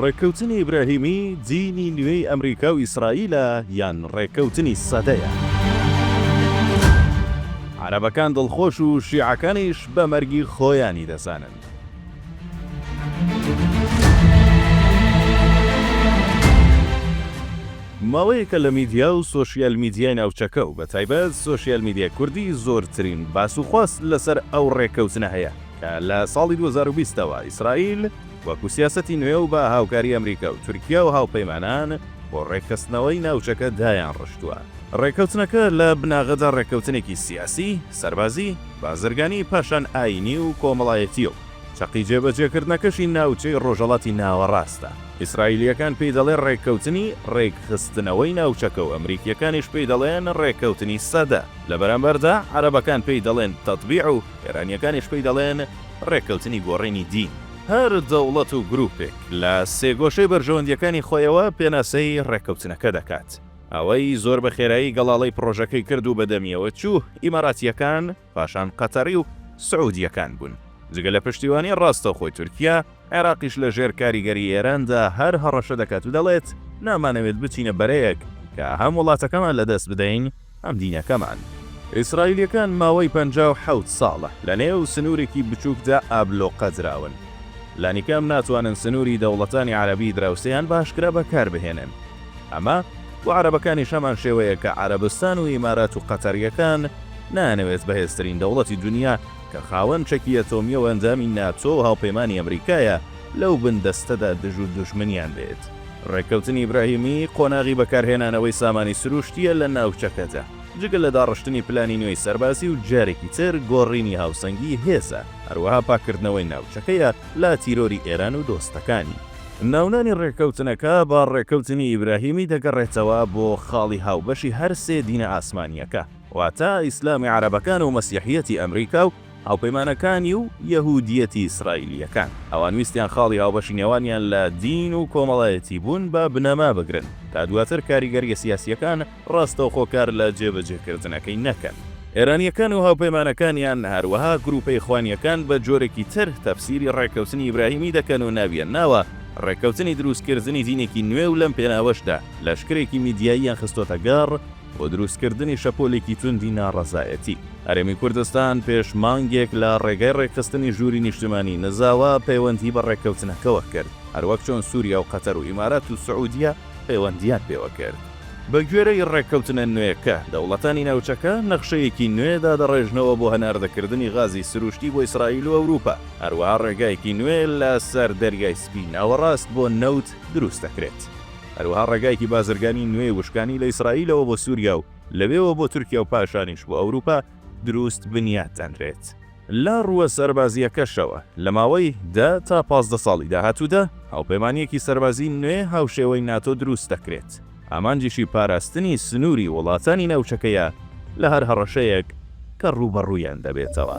ڕێککەوتنی ئیبراهیمی، دینی نوێی ئەمریکا و ئیسرائیلە یان ڕێککەوتنی سەدەیە؟ عەرەبەکان دڵخۆش و شیعەکانیش بە مەرگی خۆیانی دەزانن. ماوەیەکە لە میدیا و سۆشیال میدیای ناوچەکە و بە تایبەت سۆشیال میدیای کوردی زۆرترین باس و خواس لەسەر ئەو ڕێککەوتنە هەیە، کە لە ساڵی دوو هەزار و بیست ەوە ئیسرائیل وەکو سیاسەتی نوێ و بە هاوکاری ئەمریکا و تورکیا و هاوپەیمانان بۆ ڕێکخستنەوەی ناوچەکە دایانڕشتووە. ڕێککەوتنەکە لە بناغەدا ڕێککەوتنێکی سیاسی، سەربازی، بازرگانی، پاشان ئایینی و کۆمەڵایەتییە و چەقی جێبەجێکردنەکەشی ناوچەی ڕۆژهەڵاتی ناوەڕاستە. ئیسرائیلییەکان پێی دەڵێن ڕێککەوتنی ڕێکخستنەوەی ناوچەکە و ئەمریکییەکانیش پێی دەڵێن ڕێککەوتنی سەدە، لە بەرامبەردا عەرەبەکان پێی دەڵێن تەتبیع و، ئێرانییەکانیش پێی دەڵێن ڕێککەوتنی گۆڕینی دین. هەر دەوڵەت و گرووپێک لە سێگۆشەی بەرژەوەندییەکانی خۆیەوە پێناسەی ڕێککەوتنەکە دەکات. ئەوەی زۆر بە خێرایی گەڵاڵەی پڕۆژەکەی کرد و بەدەمییەوە چوو، ئیماراتییەکان، پاشان قەتەڕی و سعوودییەکان بوون. جگە لە پشتیوانیی ڕاستەوخۆی تورکیا، عێراقیش لە ژێر کاریگەری ئێراندا هەر هەڕەشە دەکات و دەڵێت، نامانەوێت بچینە بەرەیەک کە هەم وڵاتەکەمان لەدەست بدەین، هەم دینەکەمان. ئیسرائیلییەکان ماوەی پەنجا و حەوت ساڵە لەنێو سنوورێکی بچووکدا ئابلۆقە دراون. لانیکەم ناتوانن سنووری دەوڵەتانی عەرەبی دراوسێیان بە ئاشکرا بەکار بهێنن. ئەمە بۆ عەرەبەکانیش هەمان شێوەیە کە عەرەبستان و ئیمارات و قەتەرییەکان نایانەوێت بەهێزترین دەوڵەتی دونیا کە خاوەن چەکی ئەتۆمیە و ئەندامی ناتۆ و هاوپەیمانی ئەمریکایە، لەو بن دەستەدا دژ و دوژمنیان بێت. ڕێککەوتنی ئیبراهیمی، قۆناغی بەکارهێنانەوەی سامانی سروشتیە لە ناوچەکەدا. جگە لە داڕشتنی پلانی نوێی سەربازی و جارێکی تر گۆڕینی هاوسەنگی هێزە، هەروەها پاککردنەوەی ناوچەکەیە لە تیرۆری ئێران و دۆستەکانی. ناونانی ڕێککەوتنەکە بە ڕێککەوتنی ئیبراهیمی دەگەڕێتەوە بۆ خاڵی هاوبەشی هەر سێ دینە ئاسمانیەکە. واتە ئیسلامی عەرەبەکان و مەسیحیەتی ئەمریکا و هاوپەیمانەکانی و یەهودیەتی ئیسرائیلیەکان. ئەوان ویستیان خاڵی هاوبەشی نێوانیان لە دین و کۆمەڵایەتی بوون بە بنەما بگرن تا دواتر کاریگەریە سیاسیەکان ڕاستەوخۆ کار لە جێبەجێکردنەکەی نەکەن. ئێرانیەکان و هاوپەیمانەکانیان هەروەها گروپە ئیخوانیەکان بە جۆرێکی تر تەفسیری ڕێککەوتنی ئیبراهیمی دەکەن و ناویان ناوە ڕێککەوتنی دروستکردنی دینێکی نوێ و لەم پێناوەشدا لەشکرێکی میدیاییان خستۆتە گەڕ بۆ دروستکردنی شەپۆلێکی توندی ناڕەزایەتی. هەرێمی کوردستان پێش مانگێک لە ڕێگای ڕێکخستنی ژووری نیشتمانیی نزاوە پەیوەندی بە ڕێککەوتنەکەوە کرد، هەروەک چۆن سووریا و قەتەر و ئیمارات و سعودیە پەیوەندییان پێوە کرد. بەگوێرەی ڕێککەوتنە نوێیەکە، دەوڵەتانی ناوچەکە نەخشەیەکی نوێ دادەڕێژنەوە بۆ هەناردەکردنی غازی سروشتی بۆ ئیسرائیل و ئەوروپا، هەروەها ڕێگایەکی نوێ لەسەر دەریای سپی ناوەڕاست بۆ نەوت دروست دەکرێت. هەروەها ڕێگایەکی بازرگانی نوێی وشکانی لە ئیسرائیلەوە بۆ سوریا و لەوێوە بۆ تورکیا و پاشانیش بۆ ئەوروپا دروست بنیات دەنرێت. لە ڕووە سەربازییەکەشەوە، لە ماوەی دە تا پازدە ساڵی داهاتوودا هاوپەیمانییەکی سەربازیی نوێ هاوشێوەی ناتۆ دروست دەکرێت، ئامانجیشی پاراستنی سنووری وڵاتانی ناوچەکەیە لە هەر هەڕەشەیەک کە ڕووبەڕوویان دەبێتەوە.